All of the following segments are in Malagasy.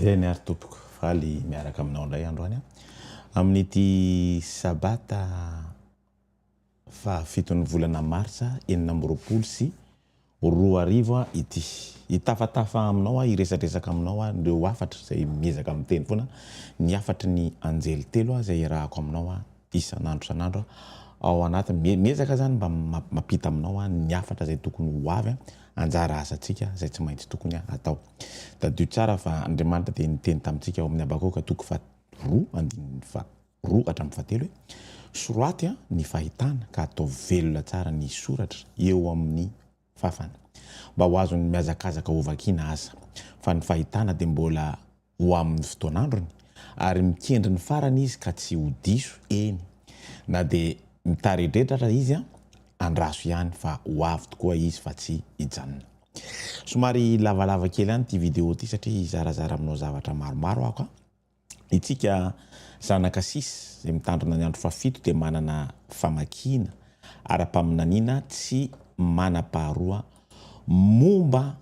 Amen ary tompoko faly miaraka aminao indray androany an! amin'ity sabata fahafiton'ny volana martsa enina amby roapolo sy roa arivo ity hitafatafa aminao aho hiresadresaka aminao aho ireo hafatra izay miezaka miteny foana ny hafatry ny anjely telo aho izay iarahako aminao aho isan'andro isan'andro ao anatin'ny, miezaka zany mba mampita aminao ny hafatra izay tokony ho avy anjara asantsika izay tsy maintsy tokony atao. Tadidio tsara fa Andriamanitra dia niteny tamintsika ao amin'ny Habakoka toko faharoa andininy faharoa hatramin'ny fahatelo hoe, Soraty ny fahitana ka ataovy velona tsara ny soratra eo amin'ny fàfana, mba ho azon'ny mihazakazaka hovakiana aza, fa ny fahitana dia mbola ho amin'ny fotoan'androny, ary mikendry ny farany izy ka tsy ho diso, eny, na dia mitaredredra aza izy an, andraso ihany fa ho avy tokoa izy fa tsy hijanona. Somary lavalava kely any ity video ity satria hizarazara aminao zavatra maromaro aho ka. Itsika zanaka sis izay mitandrina ny andro fahafito dia manana famakiana ara-paminaniana tsy manam-paharoa momba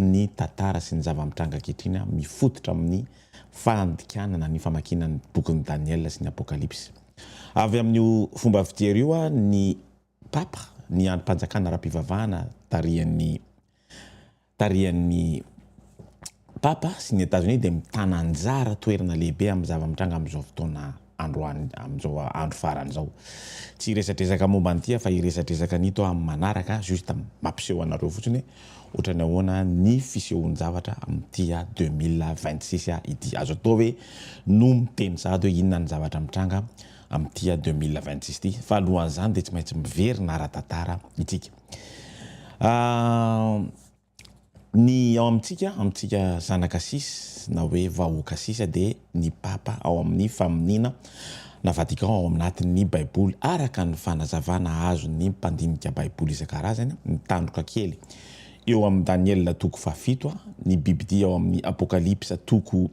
Ny tantara sy ny zava-mitranga ankehitriny mifototra amin'ny fandikanana ny famakiana ny bokin'i Daniela sy ny Apokalypsy. Avy amin'io fomba fijery io, ny Papa, ny andrim-panjakana ara-pivavahana tarihan'ny tarihan'ny Papa sy ny Etazonia dia mitana anjara toerana lehibe amin'ny zava-mitranga amin'izao fotoana. androany amin'izao andro farany izao. Tsy hiresadresaka momba an'ity aho fa hiresadresaka an'ito amin'ny manaraka, juste mampiseho anareo fotsiny hoe ohatrany ahoana ny fisehoan-javatra amin'ity a deux mille vingt six a ity. Azo atao hoe no miteny sahady hoe inona ny zavatra mitranga amin'ity a deux mille vingt six ity fa alohan'izany dia tsy maintsy miverina ara-tantara isika. Ny ao amintsika, amintsika zanaka sisa na hoe vahoaka sisa dia ny Papa ao amin'ny faminiana na Vatican ao anatin'ny Baiboly araka ny fanazavana azon'ny mpandinika Baiboly isan-karazany ny tandroka kely eo amin'ny Daniela toko fahafito, ny bibidia ao amin'ny Apokalypsa toko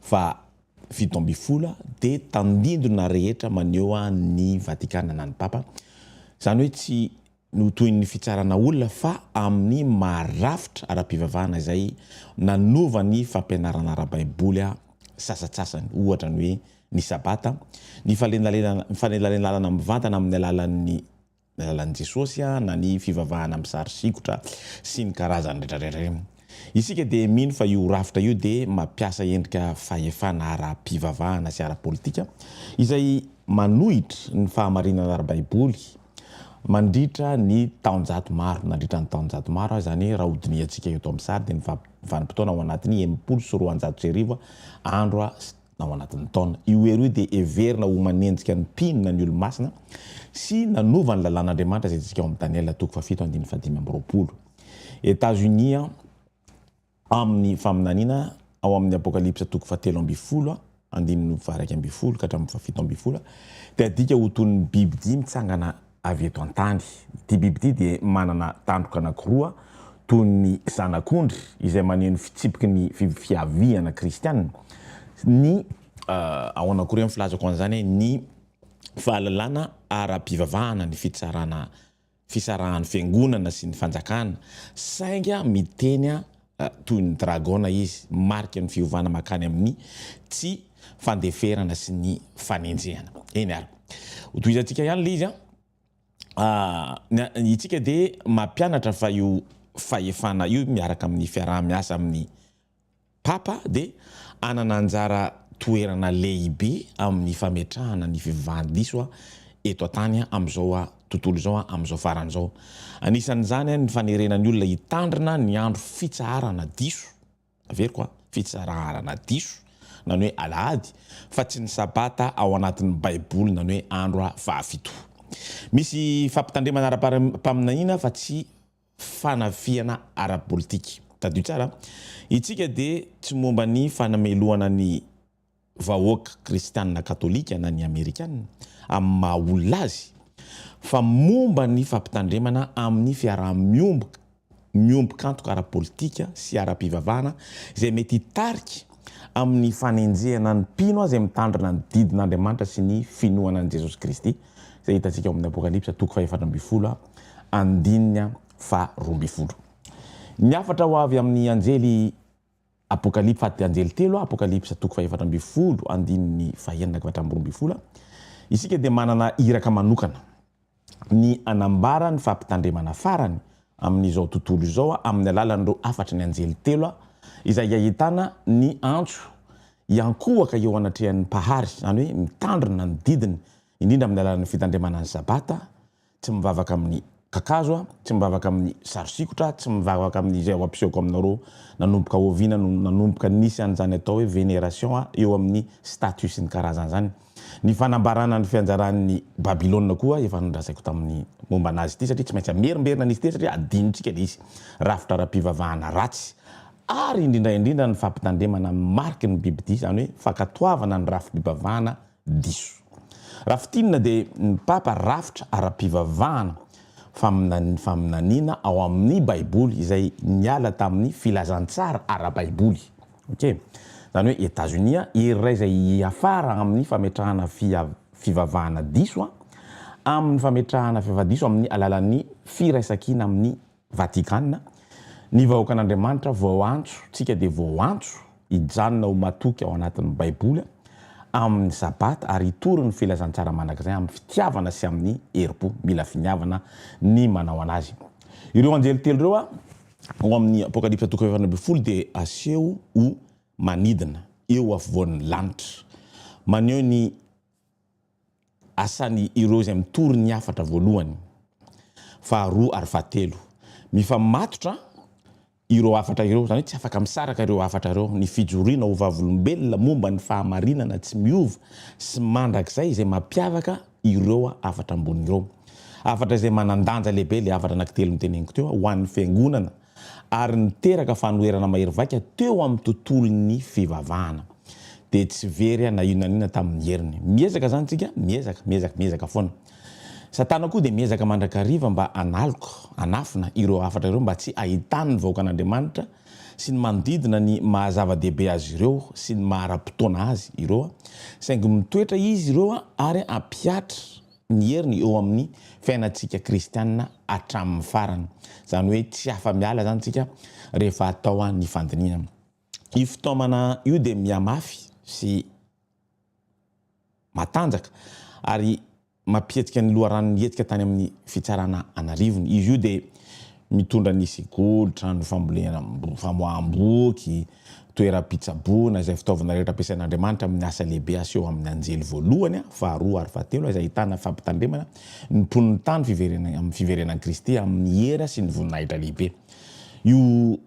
fahafito ambin'ny folo dia tandindona rehetra maneho an'ny Vatikana na ny Papa, izany hoe tsy Notohin'ny fitsarana olona fa amin'ny maha-rafitra ara-pivavahana izay nanova ny fampianarana ara-baiboly sasatsasany, ohatra ny hoe ny Sabata, ny fanelanelanana mivantana amin'ny alalan'ny alalan'i Jesosy na ny fivavahana amin'ny sary sikotra sy ny karazany rehetrarehetra ireny. Isika dia mino fa io rafitra io dia mampiasa endrika fahefana ara-pivavahana sy ara-politika izay manohitra ny fahamarinana ara-baiboly Mandritra ny taonjato maro, nandritra ny taonjato maro ary izany raha hodinihantsika eto amin'ny sary dia ny vanim-potoana ao anatin'ny enimpolo sy roanjato sy arivo andro ao anatin'ny taona. Io hery io dia heverina ho manenjika ny mpino na ny olo-masina sy nanova ny lalàn'Andriamanitra izay hitsika ao amin'ny Daniela toko fahafito andininy fahadimy amby roapolo. Etats-Unis an. Amin'ny faminaniana ao amin'ny Apokalypsa toko fahatelo ambin'ny folo andininy faha-iraika ambin'ny folo ka hatramin'ny fahafito ambin'ny folo dia adika ho toy ny bibidia mitsangana avy eto an-tany. Ity bibidia dia manana tandroka anankiroa toy ny zanak'ondry izay maneho ny fitsipiky ny fiaviana kristiana. Ny. Ahoana akory ny filazako an'izany? Ny fahalalana ara-pivavahana, ny fitsarana. fisarahan'ny fiangonana sy ny fanjakana, sainga miteny toy ny dragona izy, mariky ny fiovana mankany amin'ny tsy fandeferana sy ny fanenjehana. Eny ary, hotohizantsika ihany ilay izy an! Isika dia mampianatra fa io fahefana io miaraka amin'ny fiaraha-miasa amin'ny Papa dia hanana anjara toerana lehibe amin'ny fametrahana ny fivavahan-diso eto an-tany amin'izao tontolo izao amin'izao farany izao. Anisan'izany ny fanerena ny olona hitandrina ny andro fitsaharana diso, averiko, fitsaraharana diso, na ny hoe Alahady, fa tsy ny Sabata ao anatin'ny Baiboly na ny hoe andro fahafito. Misy fampitandremana ara-paminahiana fa tsy fanafihana ara-politika. Tadidio tsara, Isika dia tsy momba ny fanamelohana ny vahoaka kristianina katolika na ny amerikana amin'ny maha olona azy fa momba ny fampitandremana amin'ny fiaraha-miomboka miombon-kantoka ara-politika sy ara-pivavahana izay mety hitarika amin'ny fanenjehana ny mpino izay mitandrina ny didin'Andriamanitra sy ny finoana an'i Jesosy Kristy izay hitantsika ao amin'ny Apokalypsa toko fahefatra ambin'ny folo andininy faha roa ambin'ny folo. Ny hafatra ho avy amin'ny anjely Apokalypsa faty anjely telo Apokalypsa toko fahefatra ambin'ny folo andininy fahenina ka hatramin'ny roa ambin'ny folo isika dia manana iraka manokana ny hanambara ny fampitandremana farany amin'izao tontolo izao amin'ny alalan'ireo hafatry ny anjely telo izay ahitana ny antso hiankohoka eo anatrehan'ny Mpahary, izany hoe mitandrina ny didiny, indrindra amin'ny alalan'ny fitandremana ny Sabata, tsy mivavaka amin'ny kakazo, tsy mivavaka amin'ny sary sikotra, tsy mivavaka amin'izay ao am-pisehoko aminareo, nanomboka oviana no nanomboka nisy an'izany atao hoe veneration eo amin'ny statues sy ny karazany izany? Ny fanambarana ny fianjaran'ny Babylona koa efa nolazaiko tamin'ny momba anazy ity, satria tsy maintsy hamerimberina an'izy ity, satria adinontsika ilay izy, rafitra ara-pivavahana ratsy, ary indrindra indrindra ny fampitandremana amin'ny mariky ny bibidia, izany hoe fankatoavana ny rafi-pivavahana diso. Raha fintinina dia ny Papa rafitra ara-pivavahana faminaniana faminaniana ao amin'ny Baiboly izay niala tamin'ny filazantsara ara-baiboly. Ok. Zany hoe Etazonia iray izay hiafara amin'ny fametrahana fivavahana diso amin'ny fametrahana fivavahana diso amin'ny alalan'ny firaisankina amin'ny Vatikana, ny vahoakan'Andriamanitra voaantso tsika dia voaantso hijanona ho matoky ao anatin'ny Baiboly amin'ny Sabata ary hitory ny filazantsara mandrakizay amin'ny fitiavana sy amin'ny herim-po. Mila finiavana ny manao anazy. Ireo anjely telo ireo. Ao amin'ny Apokalypsa toko fahaefatra ambin'ny folo dia aseho ho manidina eo afovoan'ny lanitra. Maneho ny asan' ireo izay mitory ny hafatra voalohany, faharoa ary fahatelo. Mifamatotra ireo hafatra ireo, izany hoe tsy afaka misaraka ireo hafatra ireo. Ny fijoroana ho vavolombelona momba ny fahamarinana tsy miova sy mandrakizay izay mampiavaka ireo hafatra ambony ireo. Hafatra izay manan-danja lehibe ilay hafatra anankitelo noteneniko teo ho an'ny Fiangonana ary niteraka fanoherana mahery vaika teo amin'ny tontolon'ny fivavahana. Dia tsy very na inona na inona tamin'ny heriny. Miezaka izany isika, miezaka, miezaka, miezaka foana. Satana koa dia miezaka mandrakariva mba hanaloka, hanafina ireo hafatra ireo mba tsy hahitan'ny vahoakan'Andriamanitra sy ny manodidina ny maha zava-dehibe azy ireo sy ny maha ara-potoana azy ireo, saingy mitoetra izy ireo ary hampihatra ny heriny eo amin'ny fiainantsika kristiana hatramin'ny farany. Izany hoe tsy afa-miala izany isika rehefa atao ny fandinihana. Io fitaomana io dia mihamafy sy matanjaka ary mampihetika ny loharanon'ny hetsika tany amin'ny fitsarana an'arivony. Izy io dia mitondra ny sekoly, trano fambolena, famoaham-boky, toeram-pitsaboana, izay fitaovana rehetra ampiasain'Andriamanitra amin'ny asa lehibe aseho amin'ny anjely voalohany, faharoa ary fahatelo, izay ahitana fampitandremana ny mponin'ny tany amin'ny fiverenan'i Kristy amin'ny hera sy ny voninahitra lehibe. Io.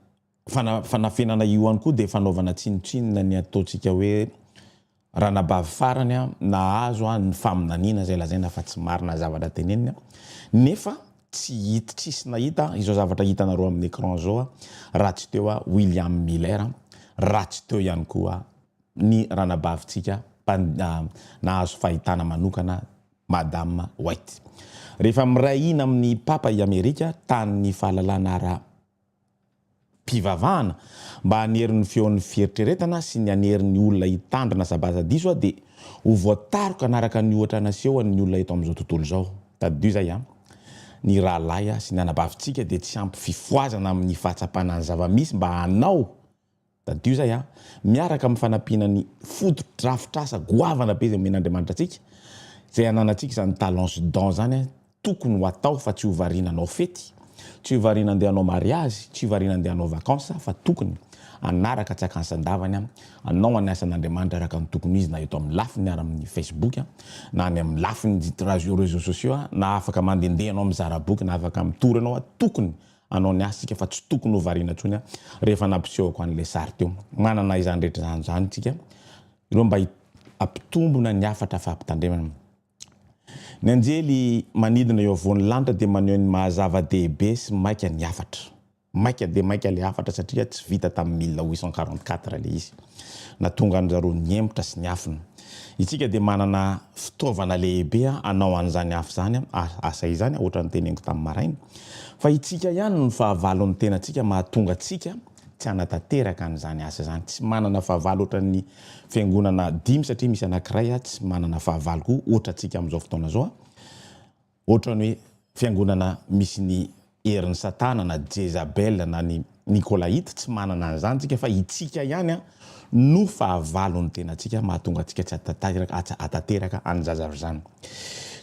fanafenana io ihany koa dia fanaovana tsinotsinona ny ataontsika hoe ranabavy farany an, nahazo an, ny faminaniana izay lazaina fa tsy marina ny zavatra teneniny an, nefa tsy hit, tsisy nahita izao zavatra hitanareo amin'ny écran izao an, raha tsy teo an William Miller an, raha tsy teo ihany koa an ny ranabavintsika nahazo fahitana manokana Madame White. Rehefa miray hina amin'ny Papa i Amerika, tanin'ny fahalalana ara, fivavahana, mba hanery ny feon'ny fieritreretana sy ny hanery ny olona hitandrina sabaza diso aho dia ho voataroka hanaraka ny ohatra nasehon'ny olona eto amin'izao tontolo izao. Tadidio izay an! Ny rahalahy sy ny anabavintsika dia tsy ampy fifohazana amin'ny fahatsapana ny zava-misy mba hanao Tadidio izay a! miaraka amin'ny fanampiana ny fotodrafitrasa goavana be izay omen'Andriamanitra antsika, izay ananantsika izany talents dons izany a! tokony ho atao fa tsy ho variana hanao fety, tsy ho variana handeha hanao mariazy, tsy ho variana handeha hanao vacances fa tokony hanaraka tsy akansan-davany a! hanao ny asan'Andriamanitra araka ny tokony ho izy na eto amin'ny lafiny ary amin'ny facebook a! na any amin'ny lafiny réseaux sociaux a! na afaka mandehandeha ianao mizara boky na afaka mitory ianao a! tokony anao ny asika fa tsy tokony ho variana intsony aho rehefa nampisehoko an'ilay sary teo. Manana izany rehetra izany izany isika ireo mba hampitombona ny hafatra fampitandremana. Ny anjely manidina eo afovoan'ny lanitra dia maneho ny maha zava-dehibe sy maika ny hafatra. Maika dia maika ilay hafatra satria tsy vita tamin'ny mille huit cent quarante-quatre ilay izy. na tonga an-dry zareo nihemotra sy niafina. Itsika dia manana fitaovana lehibe hanao an'izany hafa izany asa izany, ohatra ny teneniko tamin'ny maraina, fa itsika ihany no fahavalon'ny tenantsika mahatonga antsika tsy hanatanteraka an'izany asa izany. Tsy manana fahavalo ohatran'ny fiangonana dimy satria misy anankiray tsy manana fahavalo koa ohatra antsika amin'izao fotoana izao. Ohatrany hoe fiangonana misy ny herin'i satana na jezabel na ny nikolaita, tsy manana an'izany tsika fa itsika ihany no fahavalon'ny tenatsika mahatonga antsika tsy atateraka any zazavy zany.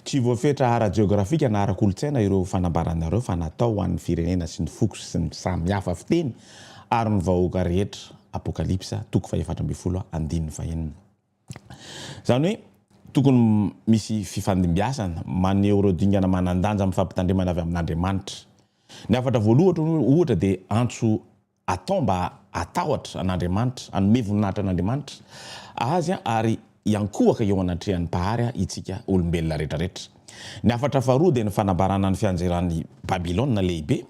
Tsy voafetra ara-jeografika na ara-kolotsaina ireo fanambaranareo fa natao ho an'ny firenena sy ny foko sy ny samy hafa fiteny ary ny vahoaka rehetra Apokalypsa toko fahefatra ambin'ny folo andininy fahenina. Izany hoe tokony misy fifandimbiasana maneho ireo dingana manan-danja amin'ny fampitandremana avy amin'Andriamanitra. Ny hafatra voalohatra, ohatra, dia antso atao mba hatahotra an'Andriamanitra, hanome voninahitra an'Andriamanitra Azy ary hiankohoka eo anatrehan'ny Mpahary isika olombelona rehetra rehetra. Ny hafatra faharoa dia ny fanambarana ny fianjeran'i Babylona Lehibe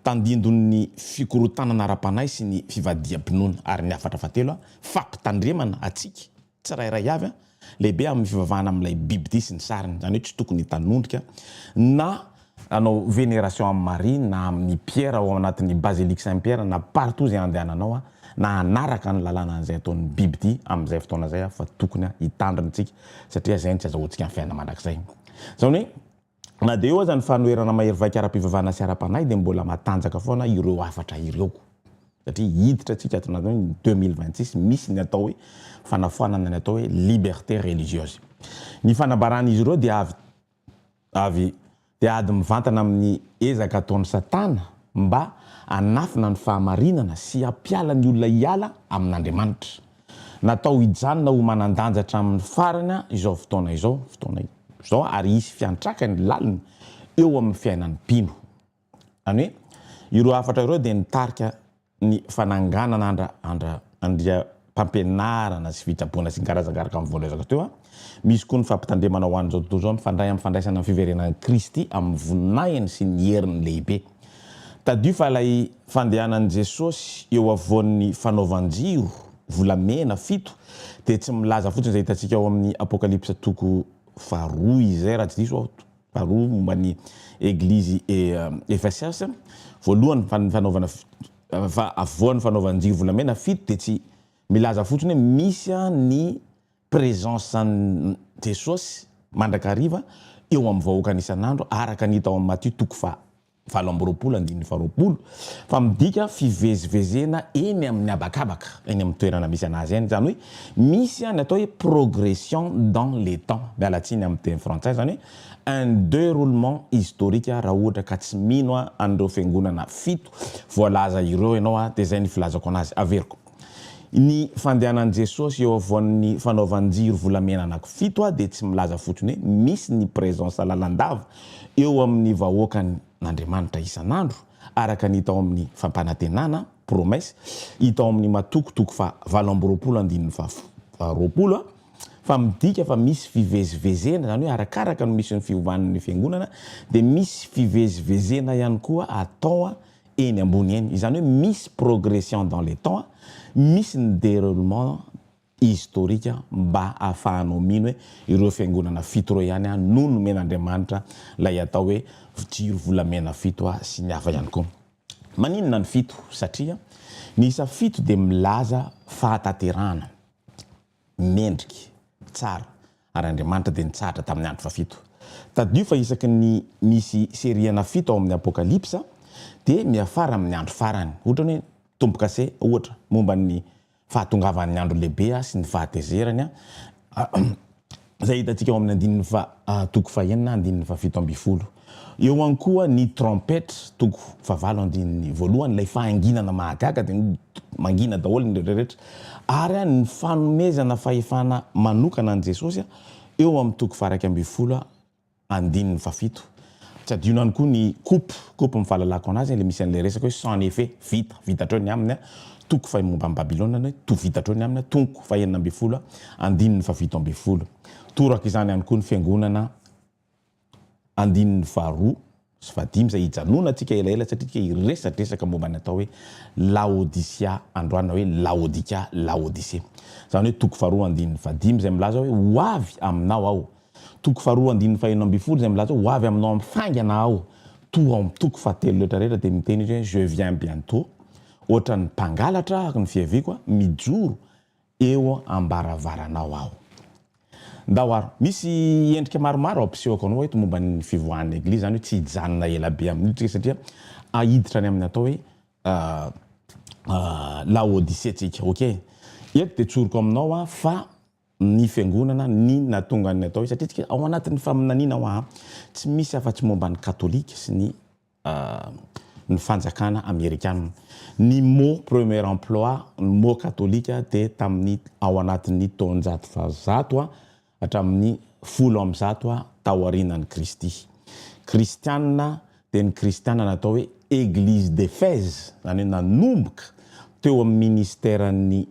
Tandindon'ny fikorontanana ara-panahy sy ny fivadiham-pinoana ary ny hafatra fahatelo, fampitandremana antsika tsirairay avy lehibe amin'ny fivavahana amin'ilay bibidia sy ny sariny, izany hoe tsy tokony hitanondrika na hanao veneration amin'i Maria na amin'i Piera ao anatin'ny Basilique Saint Pierre na partout izay andehananao na hanaraka ny lalànan'izay ataon'ny bibidia amin'izay fotoana izay fa tokony hitandrina isika satria izay no tsy azahoantsika ny fiainana mandrakizay. Izany hoe. Na dia eo aza ny fanoherana mahery vaika ara-pivavahana sy ara-panahy dia mbola matanjaka foana ireo hafatra ireo satria hiditra antsika ato anatin'ny hoe ny deux mille vingt six misy ny atao hoe fanafoanana ny atao hoe liberté religieuse. Ny fanambaran'izy ireo dia avy avy dia ady mivantana amin'ny ezaka ataon'i Satana mba hanafina ny fahamarinana sy hampiala ny olona hiala amin'Andriamanitra. Natao hijanona ho manan-danja hatramin'ny farany izao fotoana izao, fotoana izao, ary hisy fiantraikany lalina eo amin'ny fiainan'ny mpino. Izany hoe, ireo hafatra ireo dia nitarika ny fananganana andra, andra, andriampampianarana sy fitsaboana sy ny karazan karaka amin'ny voany resaka teo. Misy koa ny fampitandremana ho an'izao tontolo izao mifandray amin'ny fandraisana ny fiverenan'i Kristy amin'ny voninahiny sy ny heriny lehibe. Tadidio fa ilay fandehanan'i Jesosy eo afovoan'ny fanaovan-jiro volamena fito dia tsy milaza fotsiny izay hitantsika ao amin'ny Apokalypsa toko faharoa izay, raha tsy diso aho, faharoa momba ny Eglizy Efesias voalohany fa ny fanaovana fa afovoan'ny fanaovan-jiro volamena fito dia tsy milaza fotsiny hoe misy ny Presence an'i Jesosy mandrakariva eo amin'ny vahoakany isan'andro araka ny hita ao amin'ny Matio toko faha valo amby roapolo andininy faha roapolo fa midika fivezivezena eny amin'ny habakabaka eny amin'ny toerana misy an'azy eny izany hoe misy any atao hoe progression dans les temps miala tsiny amin'ny teny frantsay izany hoe un deroulement historique raha ohatra ka tsy mino an'ireo fiangonana fito voalaza ireo ianao dia izay ny filazako an'azy averiko Ny fandehanan'i Jesosy eo afovoan'ny fanaovan-jiro volamena anakifito a dia tsy milaza fotsiny hoe misy ny presence lalandava eo amin'ny vahoakan' Andriamanitra isan'andro araka ny hita ao amin'ny fampanantenana, promesse, hita ao amin'ny Matoko toko faha valo amby roapolo andininy faha roapolo a fa midika fa misy fivezivezena izany hoe arakaraka no misy ny fiovan'ny fiangonana dia misy fivezivezena ihany koa atao eny ambony eny, izany hoe misy progression dans le temps, misy ny deroulement historique mba hahafahanao mino hoe ireo fiangonana fito ireo ihany no nomen'Andriamanitra ilay atao hoe jiro volamena fito sy ny hafa ihany koa. Maninona ny fito? Satria ny isa fito dia milaza fahataterahana. Mendrika. Tsara. Ary Andriamanitra dia nitsahatra tamin'ny andro fahafito. Tadidio fa isaky ny misy seriana fito ao amin'ny Apokalypsa, dia miafara amin'ny andro farany. Ohatran'ny hoe tombo-kase, ohatra, momba ny fahatongavan'ny andro lehibe sy ny fahatezerany. izay hitantsika ao amin'ny andininy faha toko fahenina na andininy fahafito ambin'ny folo. Eo ihany koa ny trompetra, toko fahavalo andininy voalohany, ilay fahanginana mahagaga dia mangina daholo ny rehetra, ary ny fanomezana fahefana manokana an'i Jesosy eo amin'ny toko faha iraika ambin'ny folo. Andininy fahafito. Tsy adino ihany koa ny coop, coop amin'ny fahalalako anazy, ilay misy an'ilay resaka hoe sans effet, vita, vita hatreo ny aminy, toko fahenina momba an'i Babylona ny hoe vita hatreo ny aminy, tonko fahenina ambin'ny folo, andininy fahafito ambin'ny folo. Toraka izany ihany koa ny Fiangonana, andininy faharoa. sy fahadimy izay hijanonantsika elaela satria tsika hiresadresaka momba ny atao hoe Laodisia androany na hoe Laodika, Laodicée. Izany hoe toko faharoa andininy fahadimy izay milaza hoe ho avy aminao aho, toko faharoa andininy faheno ambin'ny folo izay milaza hoe ho avy aminao amin'ny faingana aho, toa ao amin'ny toko fahatelo rehetra rehetra dia miteny izy hoe je viens bientot, ohatran'ny mpangalatra aho araka ny fiaviako, mijoro eo ambaravaranao aho. Ndao ary, misy endrika maromaro ampisehoko anao eto momba ny fivoahan'ny Eglizy, izany hoe tsy hijanona ela be amin'io tsika satria hiditra any amin'ny atao hoe Laodisea tsika. Ok? Eto dia tsoriko aminao aho fa ny Fiangonana ny nahatonga ny atao hoe, satria tsika ao anatin'ny faminaniana hoa, tsy misy afa-tsy momba ny Katolika sy ny. ny fanjakana amerikana. Ny mot premier emploi, ny mot katolika dia tamin'ny ao anatin'ny taonjato fahazato hatramin'ny folo amby zato taorianan'i Kristy. Kristiana dia ny Kristiana natao hoe Église d'Éphèse, izany hoe nanomboka teo amin'ny ministeran'ny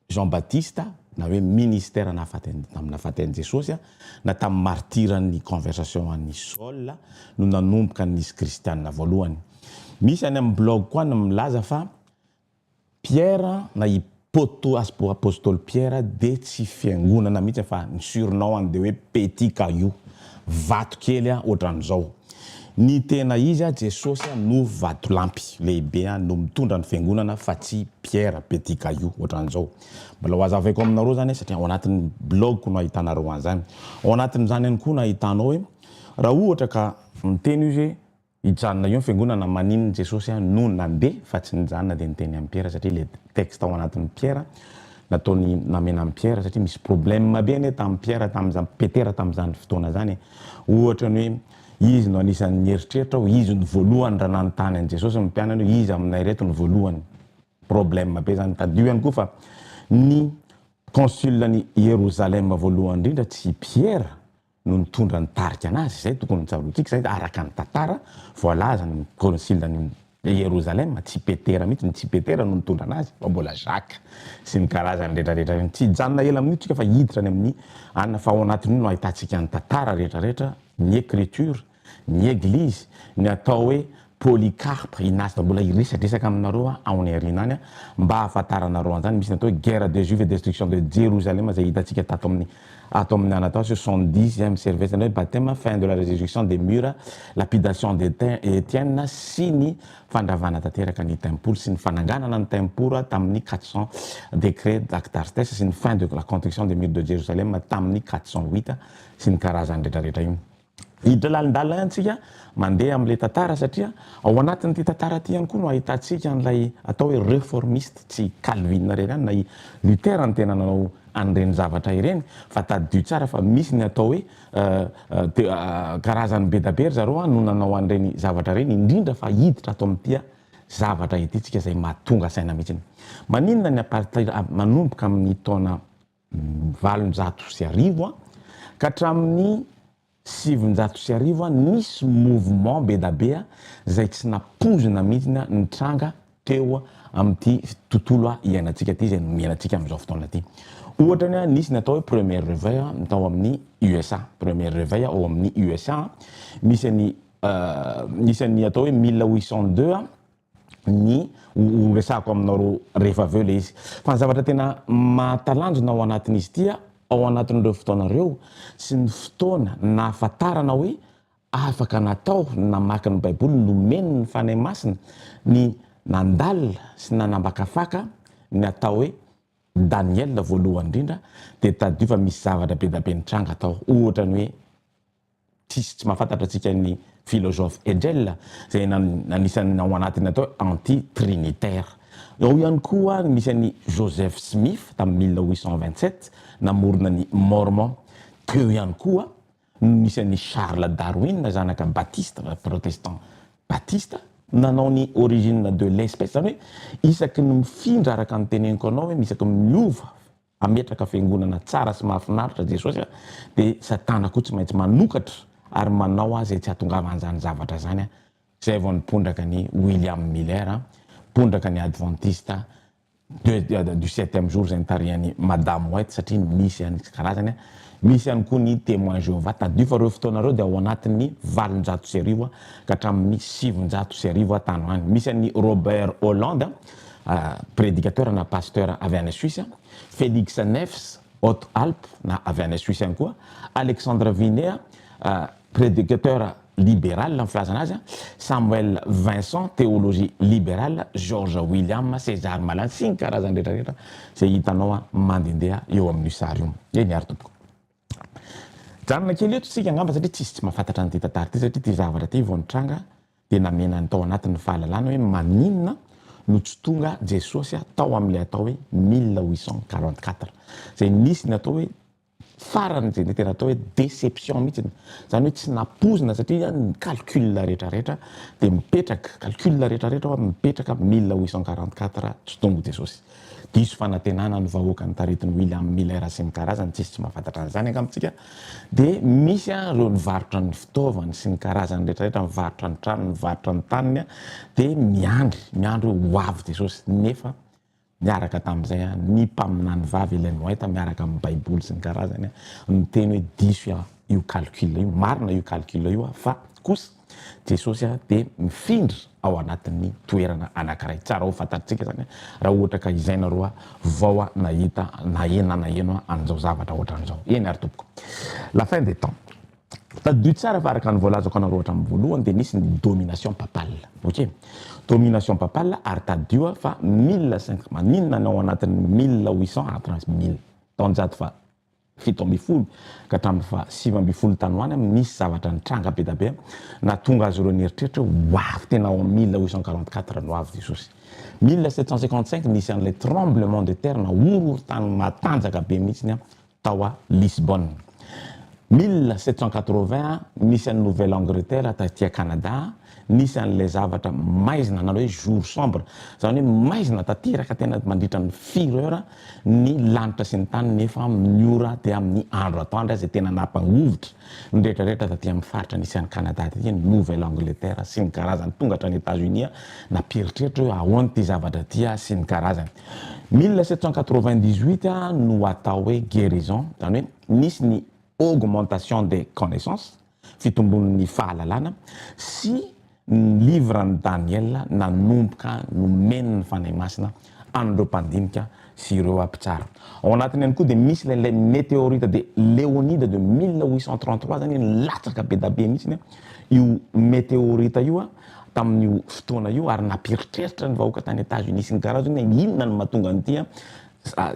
Jean Baptiste na hoe ministère nahafaty tamin'ny nahafaty an'i Jesosy na tamin'ny martiran'ny conversation an'i Saul no nanomboka nisy kristianina voalohany. Misy any amin'ny blog koa ny milaza fa Pierre na i Poto apostoly Pierre dia tsy fiangonana mihitsy fa ny surnom-ny dia hoe Petit Caillou. Vato kely a otran'izao. Ny tena izy a Jesosy a no vatolampy lehibe a no mitondra ny fiangonana fa tsy Pierre petit caillou otran'izao. Mbola ho azavaiko aminareo zany a satria ao anatin'ny blog ko no ahitanareo an'zany. Ao anatin'izany ihany koa no ahitanao hoe raha ohatra ka miteny izy hoe Hijanona eo ny fiangonana maninona Jesosy no nandeha fa tsy nijanona dia niteny amin'i Piera satria ilay texte ao anatin'i Piera nataony namena an'i Piera satria misy problème be anie tamin'i Piera tamin'izany Petera tamin'izany fotoana izany e ohatra ny hoe izy no anisan'ny nieritreritra aho izy no voalohany raha nanontany an'i Jesosy ny mpianany hoe iza aminay reto no voalohany problème be izany tadidio ihany koa fa ny consul-n'i Ierozalema voalohany indrindra tsy i Piera no nitondra ny tarika anazy, izay tokony ho tsaroantsika, izay araka ny tantara voalazan' ny kônsila ny Ierosalema, tsy Petera mihitsy, tsy Petera no nitondra anazy fa mbola Jaka sy ny karazany rehetrarehetra ireny, tsy hijanona ela amin'io tsika fa hiditra any amin'ny ann fa ao anatin'io no ahitantsika ny tantara rehetrarehetra, ny Ecriture, ny Eglizy, ny atao hoe Polycarpe, Ignase, mbola hiresadresaka aminareo aho any aoriana any mba hahafantaranareo an'izany, misy ny atao hoe Guerre des Juifs et Destruction de Jerusalem izay hitantsika tato amin'ny ato amin'ny Anatole sur son dix izay amin'ny service-ny hoe Baptême, Fin de la Resurrection des Murs, Lapidation de Etienne sy ny fandravana tanteraka ny Tempoly sy ny fananganana ny Tempora tamin'ny quatre cent Décret d'Actartes sy ny Fin de la Construction des Murs de Jerusalem tamin'ny quatre cent huit sy ny karazany retraretra iny. Hiditra lalindalina ihany tsika mandeha amin'ilay tantara satria ao anatin'ity tantara ity ihany koa no ahitantsika an'ilay atao hoe reformiste, tsy i Calvin irery ihany na i Luther no tena nanao an'ireny zavatra ireny fa tadidio tsara fa misy ny atao hoe karazany be da be ry zareo no nanao an'ireny zavatra ireny indrindra fa hiditra ato amin'ity zavatra ity tsika izay mahatonga saina mihitsy. Maninona ny apartheid manomboka amin'ny taona valonjato sy arivo an, ka hatramin'ny sivinjato sy arivo an, nisy mouvement bedabe izay tsy nampoizina mihitsy an, nitranga teo amin'ity tontolo iainantsika ity, izay nomena antsika amin'izao fotoana ity. Ohatra ny an, nisy ny atao hoe premier reveil an, tao amin'ny USA. Premier reveil ao amin'ny USA an, misy an'i, misy an'ny atao hoe mille huit cent deux an, ny ho resahako aminao roa rehefa avy eo ilay izy. Fa ny zavatra tena mahatalanjona ao anatin'izy ity ao anatin'ireo fotoana ireo sy ny fotoana nahafantarana hoe afaka natao ny namaky ny Baiboly nomeny ny Fanahy Masina ny nandalina sy nanambakafaka ny atao hoe Daniela voalohany indrindra dia tadidio fa misy zavatra be dia be nitranga tao ohatra ny hoe Tsisy tsy mahafantatra antsika ny filozofa Hegel izay anisan'ny ao anatiny atao hoe anti-trinitaire. Ao ihany koa nisy an'i Joseph Smith tamin'ny mille huit cent vingt-sept namorona ny Mormon. Teo ihany koa no nisy an'i Charles Darwin zanaka Batiste, protestant Batiste, nanao ny origine de l'espèce, izany hoe isaky ny mifindra araka ny teneniko anao hoe isaky ny miova hametraka fiangonana tsara sy mahafinaritra Jesosy a, dia Satana koa tsy maintsy manokatra ary manao azy tsy hahatongavan'izany zavatra izany a, izay vao nipondraka an'i William Miller a, mpondraka ny Adventista de du septième jour izay nitarihan'i Madame White satria nisy an'ny tsy karazany a, misy ihany koa ny Témoins Jehovah, tadidio fa ireo fotoana ireo dia ao anatin'ny valonjato sy arivo ka hatramin'ny sivinjato sy arivo tany ho any, misy an'i Robert Holland a, prédicateur na pasteur avy any Suisse, Felix Neves, Hautes-Alpes na avy any Suisse ihany koa, Alexandre Vinea, prédicateur libéral ny filazana azy, Samuel Vincent, théologie libérale, George William, César Malan sy ny karazany rehetra rehetra izay hitanao mandendeha eo amin'io sary io. Eny ary tompoko. Mijanona kely eto isika angamba satria tsisy tsy mahafantatra an'ity tantara ity satria ity zavatra ity vao nitranga dia namena ny tao anatin'ny fahalalana hoe maninona no tsy tonga Jesosy tao amin'ilay atao hoe mille huit cent quarante quatre izay nisy ny atao hoe farany izay tena atao hoe déception mihitsy izany hoe tsy nampoizina satria ny calcul rehetrarehetra dia mipetraka calcul rehetrarehetra mipetraka mille huit cent quarante quatre tsy tonga Jesosy Diso fanantenana ny vahoaka ny taritin'i William Miller sy ny karazany, tsisy tsy mahafantatra an'izany angamba tsika, dia misy an ireo nivarotra ny fitaovany sy ny karazany rehetra rehetra, nivarotra ny tranony, nivarotra ny taniny an, dia miandry, miandry hoe ho avy Jesosy, nefa niaraka tamin'izay an ny mpaminany vavy Ellen White miaraka amin'ny baiboly sy ny karazany an, niteny hoe diso an io calcul io, marina io calcul io an fa kosa, Jesosy dia mifindra ao anatin'ny toerana anankiray. Tsara ho fantatritsika izany raha ohatra ka izay nareo vao nahita na naheno an'izao zavatra ohatran'izao. Eny ary tompoko. La fin des temps. Tadidio tsara fa araka ny voalazako anareo hatramin'ny voalohany dia nisy ny domination papale. Ok. Domination papale ary tadidio fa mille cinq maninona ny ao anatin'ny mille huit cent après mille, taonjato faha. fito ambin'ny folo ka hatramin'ny faha sivy ambin'ny folo tany ho any, nisy zavatra nitranga be da be nahatonga azy ireo nieritreritra hoe ho avy tena ao amin'ny mille huit cent quarante quatre no ho avy Jesosy. Mille sept cent cinquante cinq nisy an'ilay tremblement de terre na horohorontany matanjaka be mihitsiny tao à Lisbonne. Mille sept cent quatre vingt nisy an'i Nouvelle Angleterre taty à Canada, Nisy an'ilay zavatra maizina nanao hoe jour sombre, izany hoe maizina tanteraka tena mandritra ny firy heure ny lanitra sy ny tany nefa amin'ny ora dia amin'ny andro atoandro izay tena nampangovitra ny rehetrarehetra taty amin'ny faritra nisy an'i Canada taty ny Nouvelle Angleterre sy ny karazany tonga hatrany Etats Unis nampieritreritra hoe ahoana ity zavatra ity sy ny karazany. Mille sept cent quatre-vingt-dix-huit no atao hoe guérison izany hoe nisy ny augmentation des connaissances, Fitombon'ny fahalalana sy ny livran'i Daniela nanomboka nomen'ny Fanahy Masina an'ireo mpandinika sy ireo mpitsara. Ao anatiny ihany koa dia misy ilay ilay meteorita de Leonida de 1833 zany hoe nilatsaka be da be mihitsiny io meteorita io tamin'io fotoana io ary nampiheritreritra ny vahoaka tany Etats Unis sy ny Garazo hoe inona no mahatonga an'ity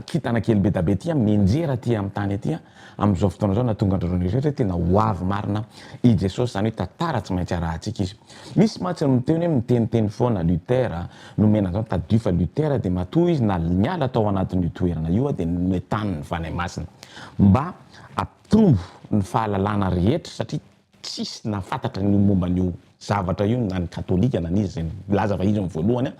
Kintana kely bedabe ity amin'ny injera aty amin'ny tany aty an, amin'izao fotoana izao nahatonga an-dry zareo nieritreritra hoe tena ho avy marina i Jesosy, izany hoe tantara tsy maintsy arahantsika izy. Misy mantsy no miteny hoe miteniteny foana Luther an, nomena an'izany tadidio fa Luther dia matoa izy na niala tao anatin'io toerana io an dia noetanin'ny Fanahy Masina mba hampitombo ny fahalalana rehetra satria Tsisy nahafantatra ny momba an'io zavatra io na ny katolika na ny iza izay nilaza fa izy no voalohany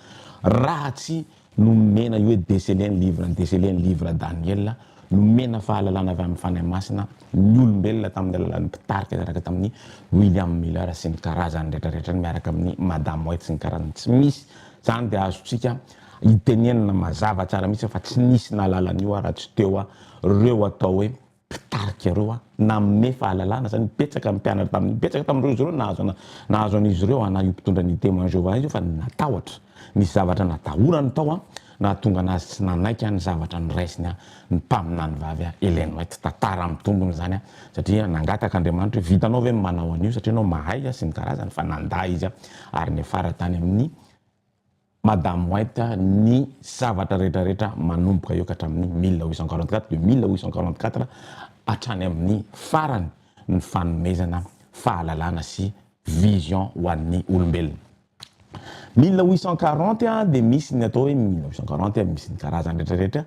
raha tsy nomena io hoe déceler ny livre ny déceler ny livre Daniel nomena fahalalana avy amin'ny Fanahy Masina ny olombelona tamin'ny alalan'ny mpitarika niaraka tamin'ny William Miller sy ny karazany rehetra rehetra miaraka amin'ny Madame White sy ny karazany tsy misy izany dia azontsika hitenenina mazava tsara mihitsy fa tsy nisy nahalala an'io raha tsy teo ireo atao hoe mpitarika ireo a! Nanome fahalalana zany betsaka ny mpianatra tamin'iny, betsaka tamin'ireo izy ireo nahazo ana, nahazo an'izy ireo ana io mpitondra ny Témoins de Jéhovah io fa natahotra, nisy zavatra natahorany tao a, nahatonga anazy tsy nanaiky a ny zavatra noraisiny a ny mpaminany vavy a Ellen White, tantara amin'ny tombony izany a, satria nangataka Andriamanitra hoe vitanao ve ny manao an'io satria ianao mahay a sy ny karazany fa nandà izy a ary niafara tany amin'ny. Madame White, ny zavatra rehetra rehetra manomboka eo ka hatramin'ny mille huit cent quarante quatre, de mille huit cent quarante quatre hatrany amin'ny farany ny fanomezana fahalalana sy vision ho an'ny olombelona. Mille huit cent quarante dia misy ny atao hoe mille neuf cent quarante, misy ny karazany rehetra rehetra,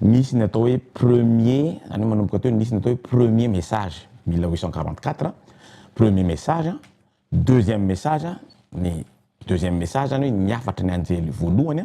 misy ny atao hoe premier, zany hoe manomboka teo, misy ny atao hoe premier message, mille huit cent quarante quatre, premier message, Deuxième message, ny deuxième message zany hoe ny hafatry ny anjely voalohany,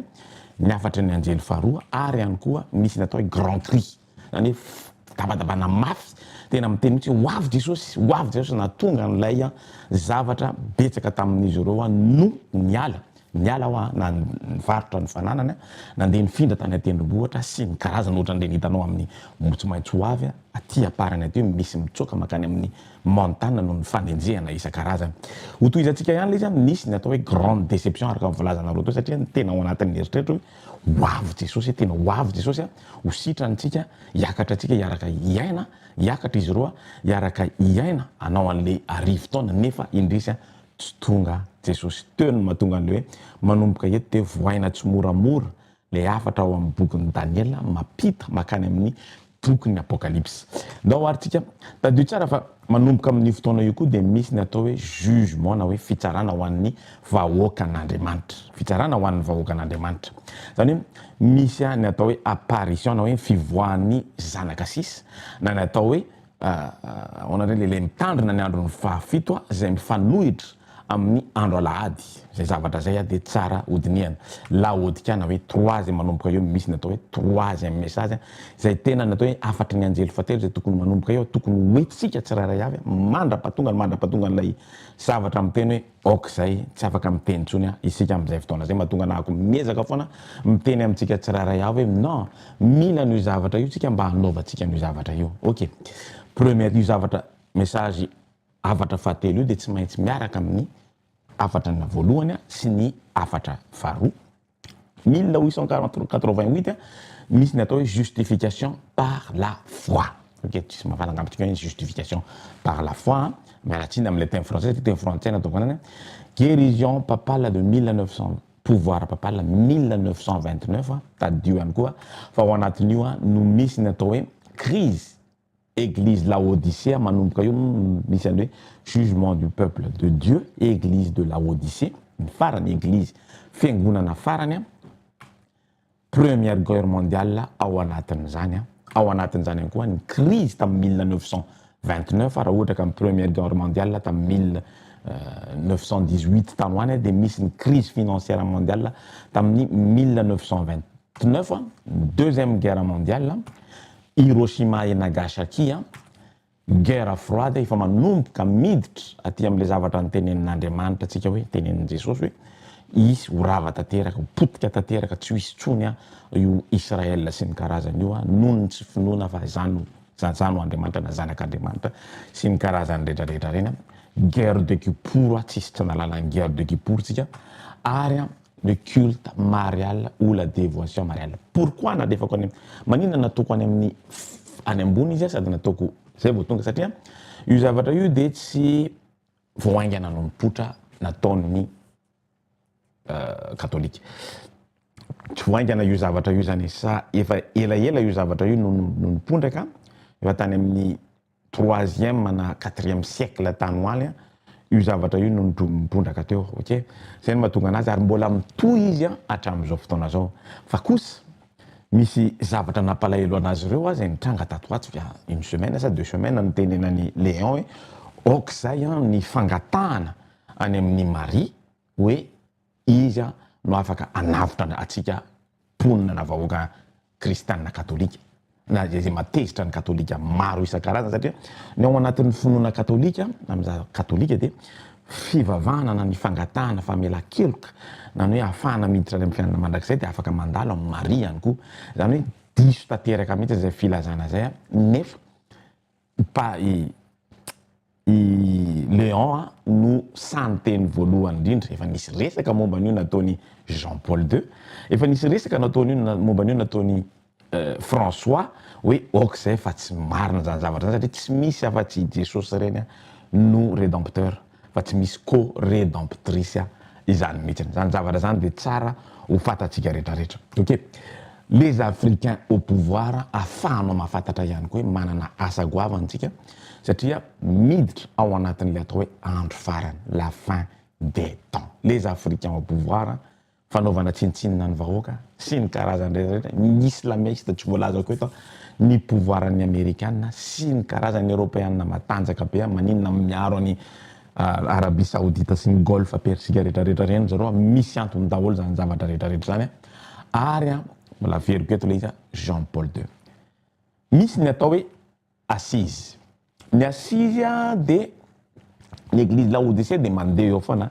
ny hafatry ny anjely faharoa ary ihany koa misy ny atao hoe grand cri, zany hoe fitabatabana mafy, tena miteny mihitsy hoe ho avy Jesosy, ho avy Jesosy, nahatonga an'ilay zavatra betsaka tamin'izy ireo no niala. Niala aho na nivarotra ny fananany, nandeha nifindra tany an-tendrombohitra sy ny karazany ohatran'ireny hitanao amin'ny omby tsy maintsy ho avy aty am-parany aty hoe misy mitsoaka mankany amin'ny montana noho ny fanenjehana isan-karazany. Hotohizantsika ihany ilay izy, nisy ny atao hoe grande déception araka ny voalazanareo teo satria ny tena ao anatin'ny eritreritra hoe ho avy Jesosy, tena ho avy Jesosy, ho sitrana antsika, hiakatra antsika hiaraka hiaina, hiakatra izy ireo hiaraka hiaina hanao an'ilay arivo taona nefa indrisy Tsy tonga Jesosy teo no mahatonga an'le hoe manomboka eto dia vohaina tsimoramora le hafatra ao amin'ny bokin'i Daniela mampita makany amin'ny bokin'ny Apokalypsy. Ndao ary tsika tadidio tsara fa manomboka amin'io fotoana io koa dia misy ny atao hoe jugement na hoe fitsarana ho an'ny vahoakan'Andriamanitra. Fitsarana ho an'ny vahoakan'Andriamanitra. Zany hoe misy ny atao hoe apparition na hoe ny fivoahan'ny zanaka sisa na ny atao hoe Ahoana indray lehilahy mitandrina ny andron'ny fahafito izay mifanohitra amin'ny andro alahady? Izay zavatra izay dia tsara hodinihana. Laodikana hoe trois izay manomboka eo no misy ny atao hoe troisième message izay tena ny atao hoe hafatry ny anjely fahatelo izay tokony manomboka eo, tokony ho hetsika tsirairay avy mandra-pahatonga ny mandra-pahatongan'ilay zavatra miteny hoe. Ok zay, tsy afaka miteny intsony an, isika amin'izay fotoana zay mahatonga anahako miezaka foana miteny amintsika tsirairay avy hoe non, mila an'io zavatra io tsika mba hanaovantsika an'io zavatra io. Ok, première, io zavatra message hafatra fahatelo io dia tsy maintsy miaraka amin'ny hafatrana voalohany sy ny hafatra faharoa. Mille huit cent quarante quatre vingt huit misy ny atao hoe justification par la foi ok tsisy mahalala angamba antsika hoe justification par la foi a miala tsiny amin'ilay teny frantsay satria teny frantsay no ataoko anany a guérison papale de mille neuf cent pouvoir papale mille neuf cent vingt neuf tadidio ihany koa fa ao anatin'io a no misy ny atao hoe crise Eglise laodicea manomboka eo no misy anle jugement du peuple de Dieu eglise de laodicea ny farany eglise fiangonana farany an première guerre mondiale ao anatin'izany an ao anatin'izany ihany koa ny crise tamin'ny mille neuf cent vingt neuf raha ohatra ka ny première guerre mondiale tamin'ny mille neuf cent dix huit tany ho any dia misy ny crise financière mondiale tamin'ny mille neuf cent vingt neuf an deuxième guerre mondiale Hiroshima et Nagasaki an! Guerre froide efa manomboka miditra aty amin'ilay zavatra nitenenin'Andriamanitra antsika hoe, nitenenin'i Jesosy hoe, hisy ho rava tanteraka, ho potika tanteraka, tsy ho hisy intsony an, io Israel sy ny karazany io an, noho ny tsy finoana fa izany no, izany no Andriamanitra na Zanak'Andriamanitra sy ny karazany rehetrarehetra ireny an! Guerre de Kippur an, tsisy tsy nahalala ny Guerre de Kippur tsika, ary an! le culte marial ou la devotion mariale pourquoi nalefako any maninona nataoko any amin'ny any ambony izy sady nataoko zay vao tonga satria io zavatra io de tsy vao haingana nompotra nataon'ny katolika tsy vao haingana io zavatra io zany sa efa elaela io zavatra io no nompondraka efa tany amin'ny troisième na quatrième siècle tany ho any io zavatra io no nitondra-ka teo ok izay no mahatonga anazy ary mbola mitohy izy hatramin'izao fotoana izao fa kosa misy zavatra nampalahelo anazy ireo aza nitranga tato ho ato via une semaine sa deux semaines nitenenan'i Léon hoe aok'izay an ny fangatahana any amin'ny Maria hoe Iza no afaka hanavotra antsika mponina na vahoaka kristianina katolika na izay izay matezitra ny katolika maro isan-karazany satria ny ao anatin'ny finoana katolika na amin'ny za katolika dia fivavahana na ny fangatahana famelan-keloka na ny hoe hahafahana miditra any amin'ny fiainana mandrakizay dia afaka mandalo amin'i Maria ihany koa izany hoe diso tanteraka mihitsy izay filazana izay nefa Mpa i i Léon a no sahy niteny voalohany indrindra. Efa nisy resaka momba an'io nataon'i Jean Paul ii. Efa nisy resaka nataon'io na momba an'io nataon'i François hoe ok zay fa tsy marina zany zavatra zany satria tsy misy afa-tsy i Jesosy reny no Redempteur. fa tsy misy co redemptrice izany mihitsiny, izany zavatra izany dia tsara ho fantatsika rehetra rehetra, ok? Les africains au pouvoir afahanao mafatatra ihany koa hoe manana asa goavana tsika satria miditra ao anatin'ilay atao hoe andro farany, la fin des temps, les africains au pouvoir, fanaovana tsinontsinona ny vahoaka sy ny karazany rehetrarehetra, ny islamiste tsy voalazako eto, ny pouvoir ny amerikana sy ny karazany eropeana matanjaka be an, maninona miaro an' i Arabie Saoudite sy ny Golfe Persique rehetrarehetra ireny zareo an, misy antony daholo izany zavatra rehetrarehetra izany an, ary an mbola averiko eto ilay izy an Jean Paul deux misy ny atao hoe Assise. Ny assise dia ny eglizy Laodicea dia mandeha eo foana.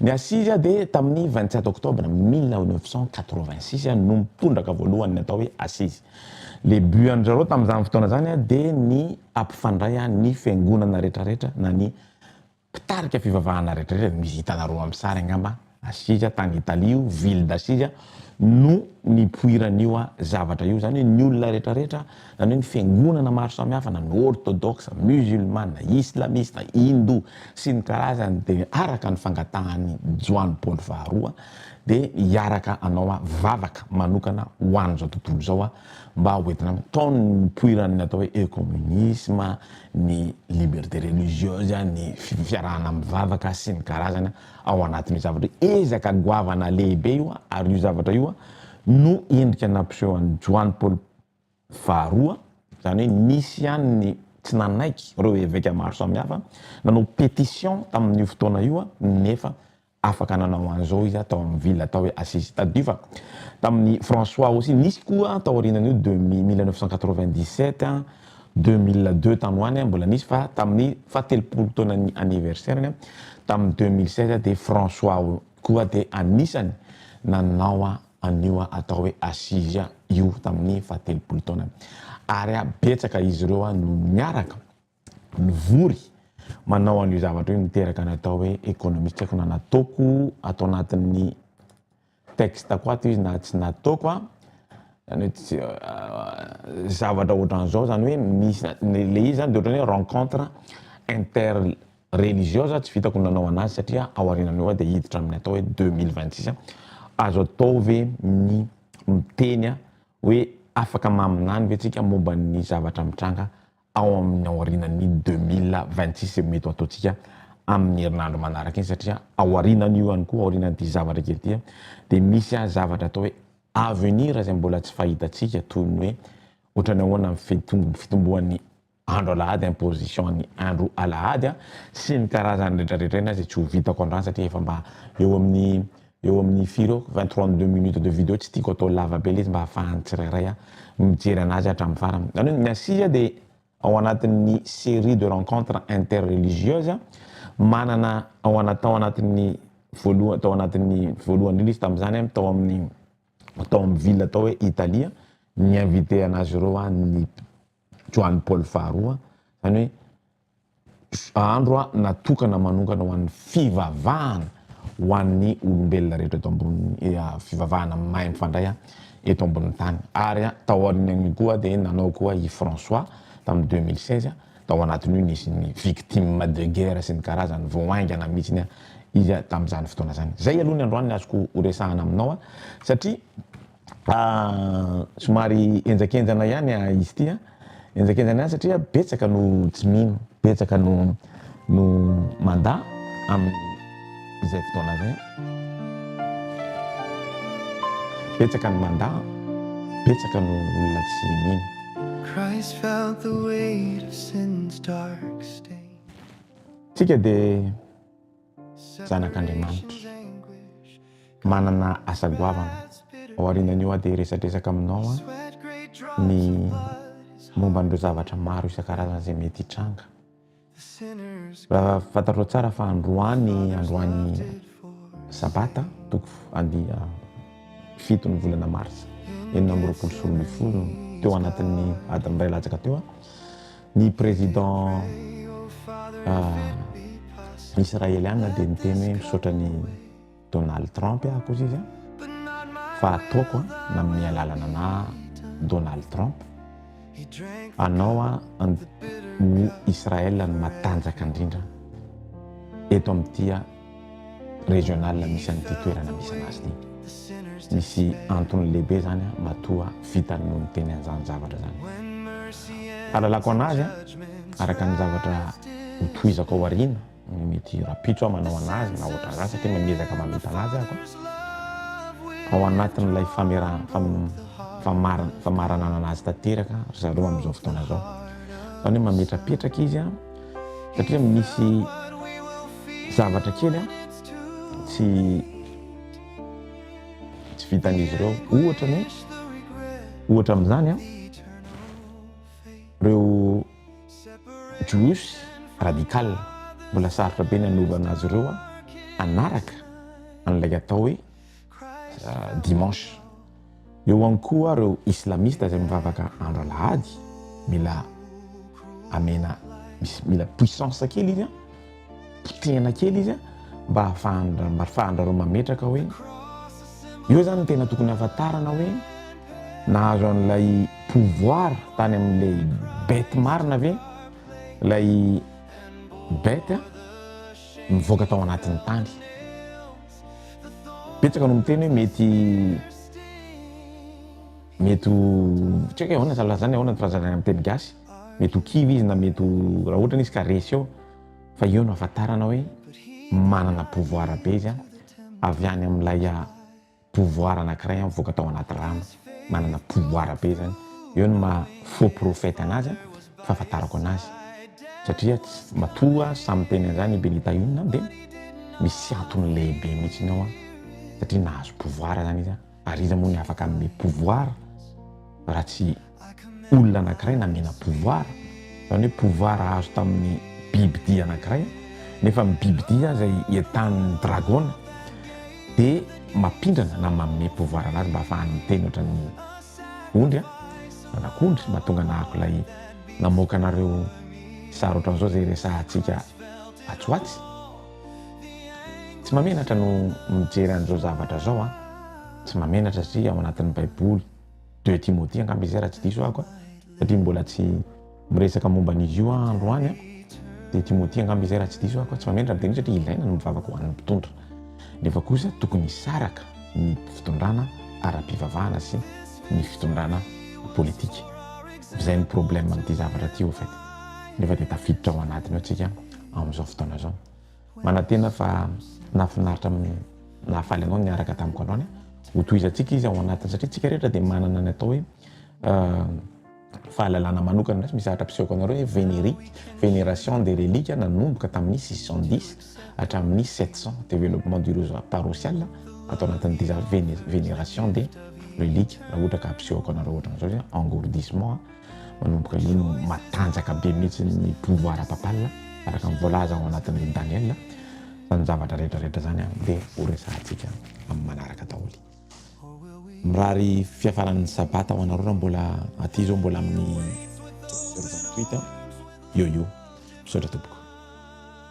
Ny assise dia tamin'ny vingt sept octobre mille neuf cent quatre vingt six no tondraka voalohany ny atao hoe assise. Le but an-dry zareo tamin'izany fotoana izany dia ny hampifandray ny fiangonana rehetra rehetra na ny Mpitarika fivavahana rehetra rehetra, misy hitanareo amin'ny sary angamba, Assise tany Italie io, ville d'Assise, no nipoiran'io zavatra io. Izany hoe ny olona rehetra rehetra, izany hoe ny fiangonana maro samihafa, na ny ortodoksa, musulmana, islamista, hindou, sy ny karazany, dia araka ny fangatahan'i Joany Paoly faharoa, dia hiaraka hanao vavaka manokana ho an'izao tontolo izao, mba hoentina mitaona ny nipoiran'ny atao hoe ecomunisme, ny liberté religieuse, ny fiarahana mivavaka sy ny karazany ao anatin'io zavatra io. Ezaka goavana lehibe io ary io zavatra io no endrika nampiseho an'i Joany Paoly faharoa, zany hoe nisy ihany ny tsy nanaiky ireo eveka maro samihafa nanao pétition tamin'io fotoana io nefa Afaka nanao an'izao izy tao amin'ny ville atao hoe Assisi. Tadidio fa tamin'ny François aussi nisy koa taorianan'io de mille neuf cent quatre-vingt-dix-sept, deux mille deux tany ho any mbola nisy fa tamin'ny fahatelopolo taonan'ny anniversaire-ny tamin'ny deux mille seize dia François koa dia anisany nanao an'io atao hoe Assisi io tamin'ny fahatelopolo taonany. Ary betsaka izy ireo no niaraka mivory manao an'io zavatra io miteraka ny atao hoe économie tsy haiko na nataoko ato anatin'ny texte ko ato izy na tsy nataoko a zany hoe tsy zavatra ohatran'izao zany hoe misy le izy zany de ohatran'ny hoe rencontre inter religieuse tsy vitako ny nanao anazy satria ao aorianan'io aho de hiditra amin'ny atao hoe deux mille vingt six azo atao ve ny miteny hoe afaka maminany ve tsika momba ny zavatra mitranga ao amin'ny aorianan'ny deux mille vingt six no mety ho ataontsika amin'ny herinandro manaraka iny satria aorianan'io ihany koa, aorianan'ity zavatra kely ity dia misy zavatra atao hoe avenir izay mbola tsy fahitantsika toy ny hoe ohatran'ny ahoana ny fitom- fitomboan'ny andro alahady imposition ny andro alahady sy ny karazany rehetrarehetra iny izay tsy ho vitako androany satria efa mba eo amin'ny Eo amin'ny firy eo? Vingt trois deux minutes de video tsy tiako atao lava be le izy mba ahafahan'ny tsirairay a mijery anazy hatramin'ny farany. Izany hoe ny Assises dia ao anatin'ny serie de rencontres interreligieuses a, manana ao ana- tao anatin'ny voaloha- tao anatin'ny voalohany indrindra izy tamin'izany a, tao amin'ny tao amin'ny ville atao hoe Italie a, ni-inviter anazy ireo a ny Joany Paoly faharoa, izany hoe. Andro natokana manokana ho an'ny fivavahana ho an'ny olombelona rehetra eto ambonin'ny fivavahana mahay mifandray eto ambonin'ny tany. Ary tao aorianan'io koa dia nanao koa i François tamin'ny 2016, tao anatin'io nisy ny victimes de guerre sy ny karazany, vao haingana mihitsy izy tamin'izany fotoana izany. Izay aloha ny androany ny azoko horesahana aminao, satria Somary henjakenjana ihany izy ity an, henjakenjana ihany satria betsaka no tsy mino, betsaka no no mandà amin'izay fotoana izay, betsaka no mandà, betsaka no olona tsy mino. Isika dia zanak'Andriamanitra. Manana asa goavana. Aorianan'io aho dia hiresadresaka aminao ny momba an'ireo zavatra maro isan-karazany izay mety hitranga. Raha fantatrao tsara fa androany androany sabata toko andia fito ny volana marsa enina amby roapolo sy roa ambin'ny folo teo anatin'ny adiny iray latsaka teo Ny président Israeliana dia miteny hoe misaotra ny Donald Trump aho kosa izy fa ataoko na amin'ny alalana na Donald Trump anao an ny Israel no matanjaka indrindra eto amin'ity régionale misy an'ity toerana misy anazy ity. Misy antony lehibe zany a, matoa vitany no niteny an'izany zavatra zany. Fahalalako anazy a, araka ny zavatra hotohizako ao aoriana, mety rapitso aho manao anazy na ohatran'izany satria mba miezaka mamita anazy aho a. Ao anatin'ilay famera- fam- famara- famaranana anazy tanteraka ry zareo amin'izao fotoana izao. Izany hoe mametrapetraka izy a. satria misy zavatra kely an tsy tsy vitan'izy ireo ohatra ny ohatra amin'izany an reo juifs radical mbola sarotra be ny anovana azy ireo an anaraka an'ilay atao hoe dimanche. Eo ihany koa ireo islamista izay mivavaka andro alahady, mila amena mila puissance kely izy an, potehina kely izy an, mba hahafahandra mba hahafahandrareo mametraka hoe eo zany ny tena tokony hahafantarana hoe nahazo an'ilay pouvoir tany amin'ilay bête marina ve ilay bête mivoaka tao anatin'ny tany. Betsaka no miteny hoe mety mety ho tsy haiko ahoana zany lazany ahoana ny filazana amin'ny teny gasy mety ho kivy izy na mety ho raha ohatra izy ka resy eo fa eo no ahafantarana hoe manana pouvoir be izy a avy any amin'ilay pouvoir anankiray mivoaka tao anaty rano manana pouvoir be zany eo ny maha faux prophète anazy an fahafantarako anazy satria matoa samy miteny an'izany i Benita inona dia misy antony lehibe mihitsy ny ao an satria nahazo pouvoir zany izy an ary iza moa ny afaka hanome pouvoir raha tsy olona anankiray namena pouvoir zany hoe pouvoir azo tamin'ny bibidia anankiray nefa ny bibidia izay entanin'ny dragona dia mampindrana na manome pouvoir an'azy mba afahany miteny ohatran'ny ondry an, anak'ondry mba tonga nahako ilay namoaka anareo sary ohatran'izao izay resahantsika atsy ho atsy. Tsy mamenatra no mijery an'izao zavatra izao an, tsy mamenatra satria ao anatin'ny baiboly. Deux Timothée angamba izay raha tsy diso ahako a, satria mbola tsy miresaka momba an'izy io aho androany a, Deux Timothée angamba izay raha tsy diso ahako a, tsy mamela raha be satria ilaina ny mivavaka ho an'ny mpitondra, nefa kosa tokony hisaraka ny fitondrana ara-pivavahana sy ny fitondrana politika, izay ny problème amin'ity zavatra ity au fait, nefa dia tafiditra ao anatiny ao tsika amin'izao fotoana izao. Manantena fa nahafinaritra amin'ny nahafaly anao ny niaraka tamiko androany. Hotohizantsika izy ao anatiny satria tsika rehetra dia manana ny atao hoe fahalalana manokana misy misahatra mpisehoka anareo hoe vénérique, vénération des reliques nanomboka tamin'ny 610 hatramin'ny 700 développement du réseau paroissial ato anatin'ny déjà vénération des reliques raha ohatra ka hampisehoako anareo ohatran'izao engourdissement Manomboka eo no matanjaka be mihitsy ny pouvoir papal araka ny voalaza ao anatin'ny Daniel. Izany zavatra rehetra rehetra izany dia ho resahantsika amin'ny manaraka daholo. Mirary fiafaran'ny sabata ho anareo raha mbola aty izao mbola amin'ny 28 io io. Misaotra tompoko.